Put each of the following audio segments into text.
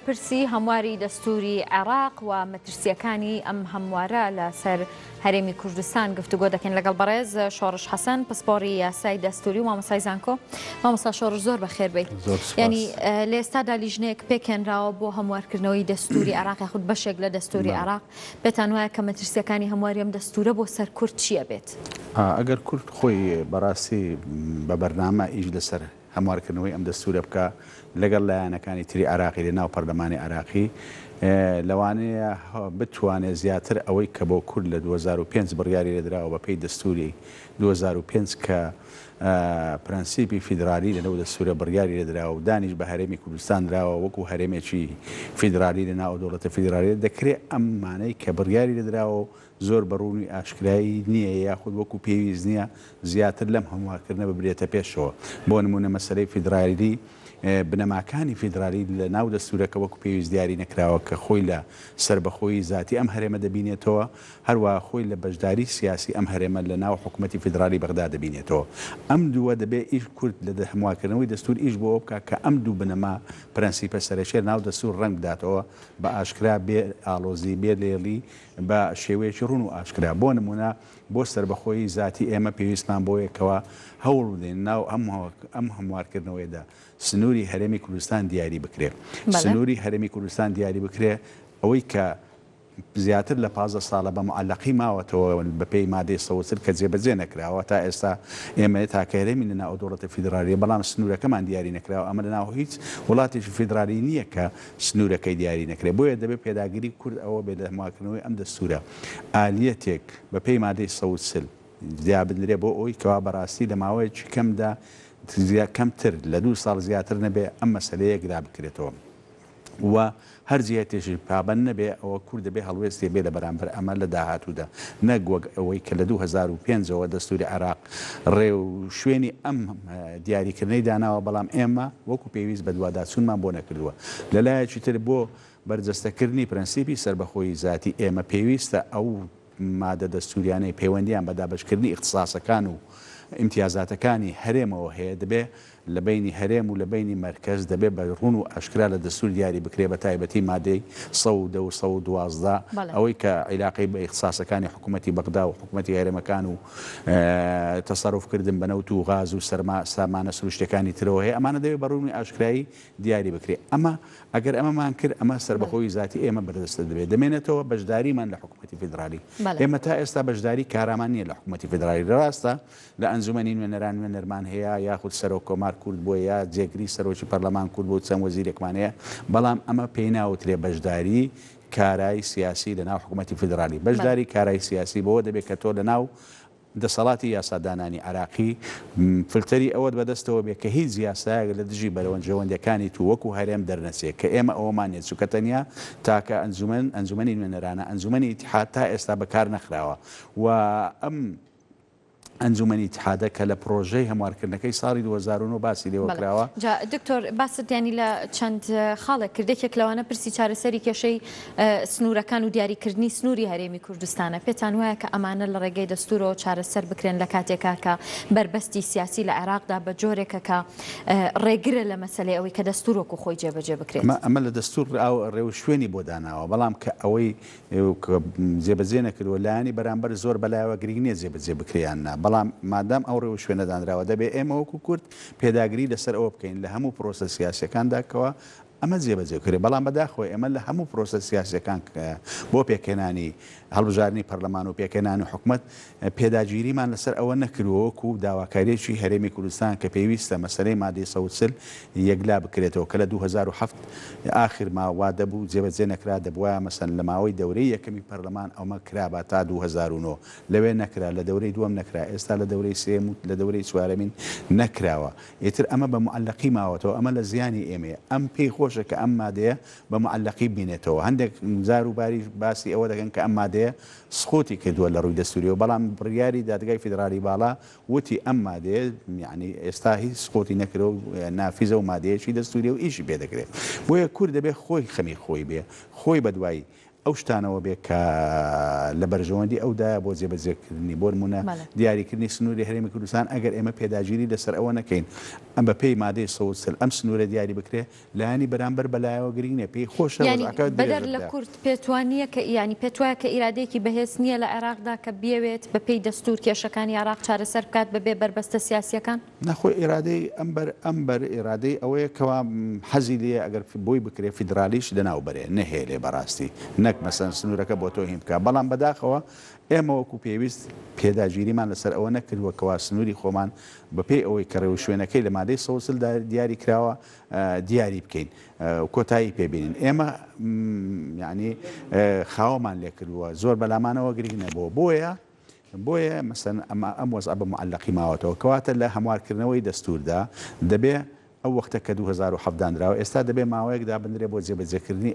پرسی هەمواری دەستووری عێراق و مەترسییەکانی ئەم هەموارە لە سەر هەرێمی کوردستان گفتوگۆ دەکەین لەگەڵ بەڕێز شۆڕش حەسەن پسپۆڕی یاسای دەستووری و مامۆستای زانکۆ مامۆستا شۆڕش زۆر بەخێر بێیت زۆر سوپاس. ینی اه، لە ئێستادا لیژنەیەک پێکهێنراوە بۆ هەموارکردنەوەی دەستووری عێراق یاخود بەشێک لە دەستووری بەڵێ. عێراق پێتان وایە کە مەترسییەکانی هەمواری ئەم دەستوورە بۆ سەر کورد چی ئەبێت؟ ئا، ئەگەر کورد خۆی بەڕاستی م، بە بەرنامە ئیش لەسەر هەموارکردنەوەی ئەم دەستورە بکا لەگەڵ لایەنەکانی تری عێراقی لەناو پەرلەمانی عێراقی لەوانەیە بتوانێ زیاتر ئەوەی کە بۆ کورد لە دوو هەزار و پێنج بڕیاری لێدراوە بە پێی دەستوری دوو هەزار و پێنج کە پرەنسیپی فیدرالی لەنەو دەستورە بڕیاری لێدراوە و دانیش بە هەرێمی کوردستان دراوە وەکو هەرێمێکی فیدرالی لەناو ئەو دەوڵەتە فیدرالیە دەکرێ ئەم مانەی کە بڕیاری لێدراوە و زۆر بە ڕوونی ئاشکرای نییە یاخود وەکو پێویست نییە زیاتر لەم هەموارکردنە ببرێتە پێشەوە. بۆ نموونە مەسەلەی فیدرالی، بنەماکانی فیدرالی لە ناو دەستوورەکە وەکو پێویست دیاری نەکراوە کە خۆی لە سەربەخۆیی زاتی ئەم هەرێمە دەبینێتەوە، هەروەها خۆی لە بەشداری سیاسی ئەم هەرێمە لە ناو حکوومەتی فیدرالی بەغدا دەبینێتەوە. ئەم دووە دەبێ ئیش کورد لە هەموارکردنەوەی دەستوور ئیش بۆ ئەوە بکا کە ئەم دوو بنەما، پرەنسیپە سەرەکییە لە ناو دەستوور ڕەنگ بداتەوە بە ئاشکرا بێ ئاڵۆزی، بێ لێڵی بە شێوەیەکی ڕوون و ئاشکرا. بۆ نموونە بۆ سەربەخۆیی زاتی ئێمە پێویستمان بەوەیە کەوا هەوڵ بدەین ناو ئەم هەموارکردنەوەیەدا سنووری هەرێمی کوردستان دیاری بکرێ. سنووری هەرێمی کوردستان دیاری بکرێ ئەوەی کە زیاتر لە پازدە ساڵە بە موعەلەقی ماوەتەوە بە پێی مادەی سەد و چل کە جێبەجێ نەکراوە تا ئێستا ئێمە تاکە هەرێمین لە ناو ئەو دەوڵەتە فیدرالییە بەڵام سنوورەکەمان دیاری نەکراوە ئەمە لە ناو هیچ وڵاتێکی فیدرالی نییە کە سنوورەکەی دیاری نەکرێت، بۆیە دەبێت پێداگری کورد ئەوە بێت لە ماکردنەوەی ئەم دەستوورە، ئالیەتێک بە پێی مادەی سەد و چل جیا بدرێت بۆ ئەوەی کەوا بە راستی لە ماوەیەکی کەمدا کەمتر لە دوو ساڵ زیاتر نەبێت ئەم مەسەلەیە یەکلا بکرێتەوە و هەر جهتێکیش پابەند نەبێت ئەوە کورد دەبێت هەڵوێستێ بێت لە بەرامبەر ئەمە لە داهاتوودا نەک وەک ئەوەی کە لە دوو هەزار و پێنج ەوە دەستووری عێراق ڕێوشوێنی ئەم دیاریکردنەی داناوە، بەڵام ئێمە وەکو پێویست بەدواداچوونمان بۆ نەکردووە. لە لایەکی تر بۆ بەرجەستەکردنی پرەنسیپی سەربەخۆیی زاتی، ئێمە پێویستە ئەو مادە دەستووریانەی پەیوەندییان بە دابەشکردنی ئیختساسەکان و ئیمتیازاتەکانی هەرێمەوە هەیە، دەبێ لە بەینی هەرێم و لە بەینی مەرکەز دەبێ بە ڕوون و ئاشکرا لە دەستوور دیاری بکرێ بە تایبەتی مادەی سەد و دە و سەد و دوازدە بەڵێ. ئەوەی کە عیلاقەی بە ئیختساسەکانی حکوومەتی بەغدا و حکوومەتی هەرێمەکان و تەسەروف کردن بە نەوت و غاز و سەرما سامانە سرووشتیەکانی ترەوە هەیە ئەمانە دەبێ بە ڕوونی ئاشکرایی دیاری بکرێ ئەمە ئەگەر ئەمەمان کرد ئەمە بەڵێ. سەربەخۆیی زاتی ئێمە بەردەست دەبێ دەمێنێتەوە بەشداریمان لە حکوومەتی فیدرالی بەڵێ. ئێمە تا ئێستا بەشداری کارامان نییە لە حکوومەتی فیدرالی راستە لە ئەنجومەنی نوێنەران نوێنەرمان هەیە یاخود سەرۆک کۆمار کورد بووە یا جێگری سەرۆکی پەرلەمان کورد بووە و چەند وەزیرێکمان هەیە بەڵام ئەمە پێی ناوترێ بەشداری کارای سیاسی لەناو حکومەتی فیدرالی بەڵێ. بەشداری کارای سیاسی بەوە دەبێ کە تۆ لەناو دەسەڵاتی یاسادانانی عێراقی فلتەری ئەوەت بەدەستەوە بێ کە هیچ یاسایەک لە دژی بەرەونجەوەندەکانی تو وەکو هەرێم دەرنەچێ کە ئێمە ئەوەمان نیە چونکە تەنیا تاکە ئەنجومەن ئەنجومەنی نوێنەرانە ئەنجومەنی ئیتحاد تا ئێستا بەکارنەخراوە و ئەم ئەنجومەنی ئیتحادە کە لە پڕۆژەی هەموارکردنەکەی ساڵی دوو هەزار و نۆ باسی لێوە کراوە. بەڵێ جا دکتۆر باست یانی لە چەند خاڵێک کرد یەکێک لەوانە پرسی چارەسەری کێشەی سنوورەکان و دیاریکردنی سنووری هەرێمی کوردستانە، پێتان وایە کە ئەمانە لە ڕێگەی دەستوورەوە چارەسەر بکرێن لە کاتێکا کە بەربەستی سیاسی لە عێراقدا بە جۆرێکە کە ڕێگرە لە مەسەلەی ئەوەی کە دەستوور وەکوو خۆی جێبەجێ بکرێت؟ ئەمە لە دەستوور ڕێوشوێنی بۆ داناوە، بەڵام کە ئەوەی کە جێبەجێ نەکردووە، لایەنی بەرامبەر زۆر بەلایەوە گرینگ نییە جێبەجێ بکرێ یان نا، بەڵام مادام ئەو ڕێوشوێنە دانراوە دەبێ ئێمە وەکو کورد پێداگری لەسەر ئەوە بکەین لە هەموو پرۆسە سیاسییەکاندا کەوا ئەمە جێبەجێ بکرێ، بەڵام بەداخەوە ئێمە لە هەموو پرۆسە سیاسییەکان بۆ پێکهێنانی هەڵبژاردنی پەرلەمان و پێکهێنانی حکومەت پێداگیریمان لەسەر ئەوە نەکردووە وەکو داواکارییەکی هەرێمی کوردستان کە پێویستە مەسەلەی مادەی سەد و چل یەکلا بکرێتەوە کە لە دوو هەزار و حەفت ئاخر ما وا دەبوو جێبەجێ نەکرا دەبوایە مەسەن لە ماوەی دەورەی یەکەمی پەرلەمان ئەومە کرابا تا دوو هەزار و نۆ لەوێ نەکرا لە دەورەی دووەم نەکرا ئێستا لە دەورەی سێیەم و لە دەورەی چوارەمین نەکراوە ئیتر ئەمە بە موعەلەقی ماوەتەوە ئەمە لە زیانی ئێمەیە ئەم پێی خۆشە کە ئەم مادەیە بە موعەلەقی بمینێتەوە هەندێک جار و باریش باسی ئەوە دەکەن کە ئەم مادەیە سقوتی کردووە لە ڕووی دەستوریەوە، بەڵام بڕیاری دادگای فیدراڵی باڵا وتی ئەم مادەیە یەعنی ئێستا هیچ سقوتی نەکردوە و نافیزە و مادەیەکی دەستوریە و ئیشی پێ دەکرێ. بۆیە کورد دەبێ خۆی خەمی خۆی بێ، خۆی بەدوای ئەو شتانەوە بێ کە لە بەرژەوەندی ئەو دایە بۆ جێبەجێکردنی. بۆنمونە دیاریکردنی سنوری هەرێمی کوردستان ئەگەر ئێمە پێداگیری لەسەر ئەوە نەکەین بەپێی مادەی سەد و چل ئەم سنورە دیاری بکرێ لایەنی بەرامبەر بە لایەوە گرنگ نیە پێی خۆشە یانی وەزعەکە بەدەر درێژە لە بدات. کورد پێتوا نیە کە یانی پێتوایە کە ئیرادەیەکی بەهێز نیە لە عێراقدا کە بیەوێت بە پێی دەستور کێشەکانی عێراق چارەسەر بکات بە بێ بەربەستە سیاسیەکان؟ نا خۆی ئیرادەی ئەم بەر ئەم بەر ئیرادەی ئەوەیە کەوا حەزی لێیە ئەگەر بۆی بکرێ فیدرالیش لەناو بەرێ نەهێلێ بەراستی نەک مەسەن سنورەکە بۆ تۆهین بکا بەڵام بەداخەوە ئێمە وەکو پێویست پێداگیریمان لەسەر ئەوە نەکردوە کەوا سنوری خۆمان بە پێی ئەوەی کە رێوشوێنەکەی لە مادەی سەد و چل دا دیاری کراوە دیاری بکەین و کۆتایی پێ بینین ئێمە یعنی خاوەمان لێ کردووە زۆر بەلامانەوە گرنگ نەبووە بۆیە بۆیە مەسەن ئەمە ئەم وەز بە معلقی ماوەتەوە کەواتە لە هەموارکردنەوەی دەستوردا دەبێ ئەو وەختە کە 2017 دانراوە ئێستا دەبێ ماوەیەک دابنرێ بۆ جێبەجێکردنی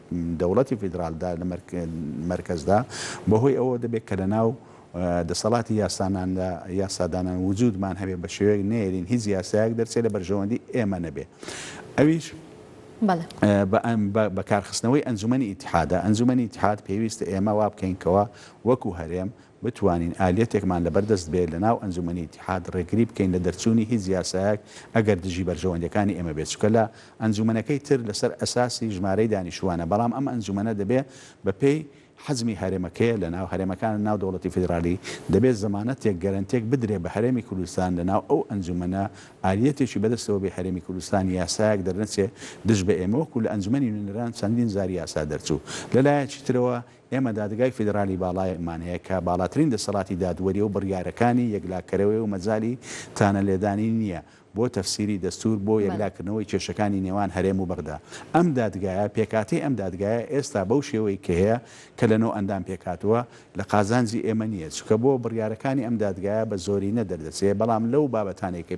دەوڵەتی فیدرالدا لە مەرکەزدا بەهۆی ئەوە دەبێت کە لەناو دەسەڵاتی یاساناندا یاسادانان وجودمان هەبێ بە شێوەیەک نێرین هیچ یاسایەک دەرچێت لە بەرژەوەندی ئێمە نەبێ ئەویش بەکارخستنەوەی ئەنجومەنی ئیتحادە ئەنجومەنی ئیتحاد پێویستە ئێمە وا بکەین کەوا وەکو هەرێم بتوانین ئالیەتێکمان لەبەر دەست بێت لەناو ئەنجومەنی ئیتیحاد ڕێگری بکەین لە دەرچوونی هیچ یاسایەک ئەگەر دژی بەرژەوەندیەکانی ئێمە بێت چونکە لە ئەنجومەنەکەی تر لەسەر ئەساسی ژمارەی دانیشتوانە بەڵام ئەم ئەنجومەنە دەبێت بە پێی حەجمی هەرێمەکەیە لەناو هەرێمەکان ناو دەوڵەتی فیدرالی دەبێت زەمانەتێک گەرەنتێک بدرێت بە هەرێمی کوردستان لەناو ئەو ئەنجومەنە ئالیەتێکی بەدەستەوە بێت هەرێمی کوردستان یاسایەک دەرنەچێت دژ بە ئێمە وەکو لە ئەنجومەنی نوێنەران چەندین جار یاسا دەرچوو لەلایەکی ترەوە ئێمە دادگای فیدرالی باڵایمان هەیە کە باڵاترین دەسەڵاتی دادوەریە و بڕیارەکانی یەکلاکەرەوەیە و مەجالی تانە لێدانی نییە بۆ تەفسیری دەستور بۆ یەکلاکردنەوەی کێشەکانی نێوان هەرێم و بەغدا. ئەم دادگایە پێکهاتەی ئەم دادگایە ئێستا بەو شێوەی کە هەیە کە لە نۆ ئەندام پێکهاتووە لە قازانجی ئێمە نییە چونکە بۆ بڕیارەکانی ئەم دادگایە بە زۆرینە دەردەچێ بەڵام لەو بابەتانەی کە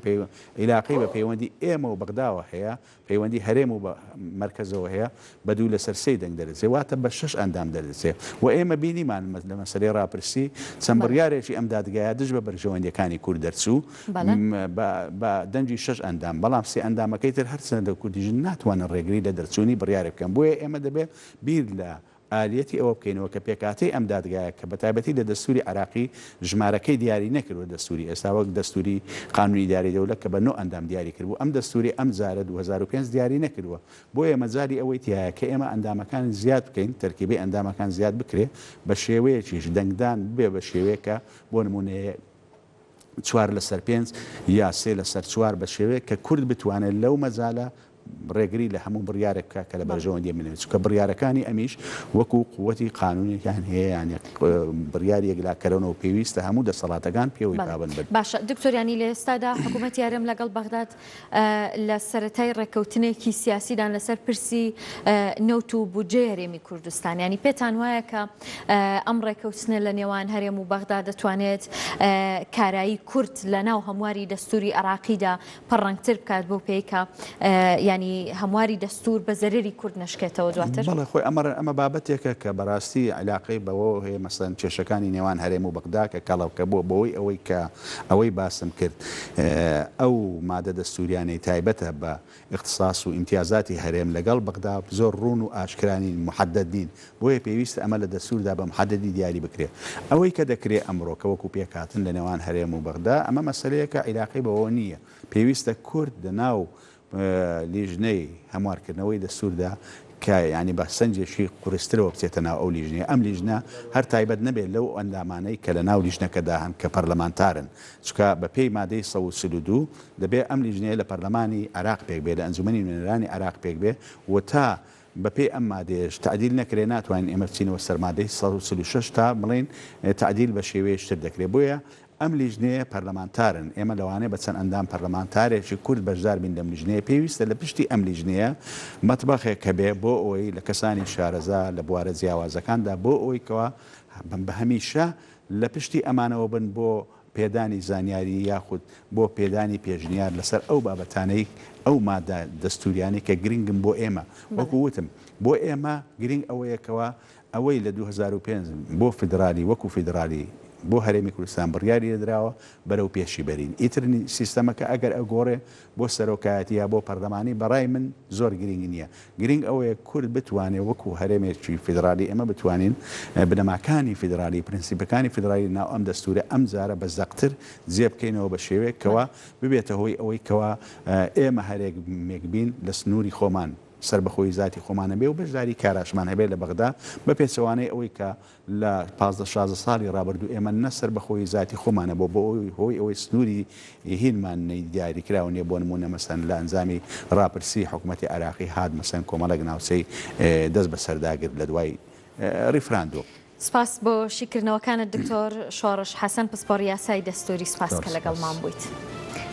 عیلاقەی بە پەیوەندی ئێمە و بەغداوە هەیە پەیوەندی هەرێم و بە مەرکەزەوە هەیە بە دوو لەسەر سێی دەنگ دەردەچێت واتە بە شەش ئەندام دەردەچێت و ئێمە بینیمان لە مەسەلەی ڕاپرسی چەند بڕیارێکی ئەم دادگایە دژ بە بەرژەوەندیەکانی کورد دەرچوو بە دەنگی شەش ئەندام بەڵام سێ ئەندامەکەی تر هەرچەندە کوردی ژن ناتوانن ڕێگری لە دەرچوونی بڕیارێک بکەن بۆیە ئێمە دەبێت بیر لە ئالیەتی ئەوە بکەینەوە کە پێکهاتەی ئەم دادگایە کە بەتایبەتی لە دەستوری عێراقی ژمارەکەی دیاری نەکردوە دەستوری ئێستا وەک دەستوری قانونی اداری دولە کە بە نۆ ئەندام دیاری کردبو ئەم دەستوری ئەم جارە دوو هەزار و پێنج دیاری نەکردوە بۆیە مەجالی ئەوەی تیایە کە ئێمە ئەندامەکان زیاد بکەین تەرکیبەی ئەندامەکان زیاد بکرێ بە شێوەیەکیش دەنگدان ببێ بە شێوەیەک کە بۆ نمونە چوار لەسەر پێنج یا سێ لەسەر چوار بە شێوەیەک کە کورد بتوانێت لەو مەجالە ڕێگری لە هەموو بڕیارێک بکە کە لە بەرژەوەندی منێت چکە بڕیارەکانی ئەمیش وەکو قوتی قانونێکیان هەیەیان بڕیار یەکلاکەرەوەەوە پێویستە هەموو دەسەڵاتەکان پێوەی پابند بن باشە دکتۆریانی لە ئێستادا حکوومەت یارم لەگەڵ بەغداد لە سەرەتای ڕێککەوتنێکی سیاسیدان لەسەر پرسی نەوت و بودجەی هەرێمی کوردستان یانی پێتان وایە کە ئەم ڕێککەوتنە لە نێوان هەرێم و بەغدا دەتوانێت کارایی کورد لە ناو هەمواری دەستوری عراقیدا پەڕەنگتر بکات بۆ پێیکە ینی هەمواری دەستور بە زەرری کورد نشکێتەوە دواتر بەڵێ خۆی ئەمە ئەمە بابەتێکە کە بەڕاستی علاقەی بەوە هەیە مەسەن کێشەکانی نێوان هەرێم و بەغدا کە کەڵەوکە بووە بەوەی ئەوەی کە ئەوەی باسم کرد ئەو مادە دەستوریانەی تایبەتە بە اختصاص و امتیازاتی هەرێم لەگەڵ بەغدا زۆر ڕوون و ئاشکرا نین محدد نین بۆیە پێویستە ئەمە لە دەستوردا بە محددی دیاری بکرێ ئەوەی کە دەکرێ ئەمڕۆ کە وەکو پێکهاتن لە نێوان هەرێم و بەغدا ئەمە مەسەلەیەکە عیلاقەی بەوە نیە پێویستە کورد لە ناو لیژنەی هەموارکردنەوەی دەستوردا کە یانی با سنجێکی قورسترەوە بچێتە ناو ئەو لیژنەیە، ئەم لیژنە هەر تایبەت نەبێت لەو ئەندامانەی کە لە ناو لیژنەکەدا هەن کە پەرلەمانتارن، چونکە بە پێی مادەی سەد و چل و دوو دەبێت ئەم لیژنەیە لە پەرلەمانی عێراق پێک بێت، لە ئەنجومەنی نوێنەرانی عێراق پێک بێت و تا بە پێی ئەم مادەیەش تەعدیل نەکرێت ناتوانین ئێمە بچینەوە سەر مادەی سەد و چل و شەش تا بڵێین تەعدیل بە شێوەیەکی تر دەکرێت، بۆیە ئەم لیژنەیە پەرلەمانتارن، ئێمە لەوانەیە بە چەند ئەندام پەرلەمانتارێکی کورد بەشدار بین لەم لیژنەیە، پێویستە لە پشتی ئەم لیژنەیە مەتبەخێک هەبێ بۆ ئەوەی لە کەسانی شارەزا لە بوارە جیاوازەکاندا بۆ ئەوەی کەوا بە هەمیشە لە پشتی ئەمانەوە بن بۆ پێدانی زانیاری یاخود بۆ پێدانی پێشنیار لەسەر ئەو بابەتانەی ئەو مادە دەستووریانەی کە گرنگن بۆ ئێمە، وەکو وتم بۆ ئێمە گرنگ ئەوەیە کەوا. ئەوەی لە دوو هەزار و پێنج بۆ فیدرالی وەکو فیدرالی بۆ هەرێمی کوردستان بڕیاری لێدراوە بەرەو پێشی بەرین ئیتر سیستەمەکە ئەگەر ئەگۆڕێ بۆ سەرۆکایەتی یا بۆ پەرلەمانی بەڕای من زۆر گرینگ نیە گرینگ ئەوەیە کورد بتوانێ وەکو هەرێمێکی فیدرالی ئێمە بتوانین بنەماکانی فیدرالی پرنسیپەکانی فیدرالی ناو ئەم دەستورە ئەم جارە بە زەقتر جێ بکەینەوە بە شێوەیەک کەوا ببێتە هۆی ئەوەی کەوا ئێمە هەرێمێک بین لە سنوری خۆمان سەربەخۆیی زاتی خۆمان هەبێ و بەشداری کاراشمان هەبێ لە بەغدا، بە پێچەوانەی ئەوەی کە لە پازدە شازدە ساڵی ڕابردوو ئێمە نە سەربەخۆیی زاتی خۆمان هەبوو بە هۆی ئەوەی سنووری هینمان نەی دیاریکراو نییە بۆ نموونە مەسەن لە ئەنجامی ڕاپرسی حکومەتی عێراقی هات مەسەن کۆمەڵێک ناوچەی دەست بە سەردا گرت لە دوای ڕیفراندۆم. سپاس بۆ شیکردنەوەکانت دکتۆر شۆڕش حەسەن پسپۆڕی یاسای دەستووری سپاس کە لەگەڵمان بوویت.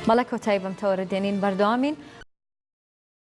بەڵێ کۆتایی بەم تەوەرە دێنین بەردەوامین.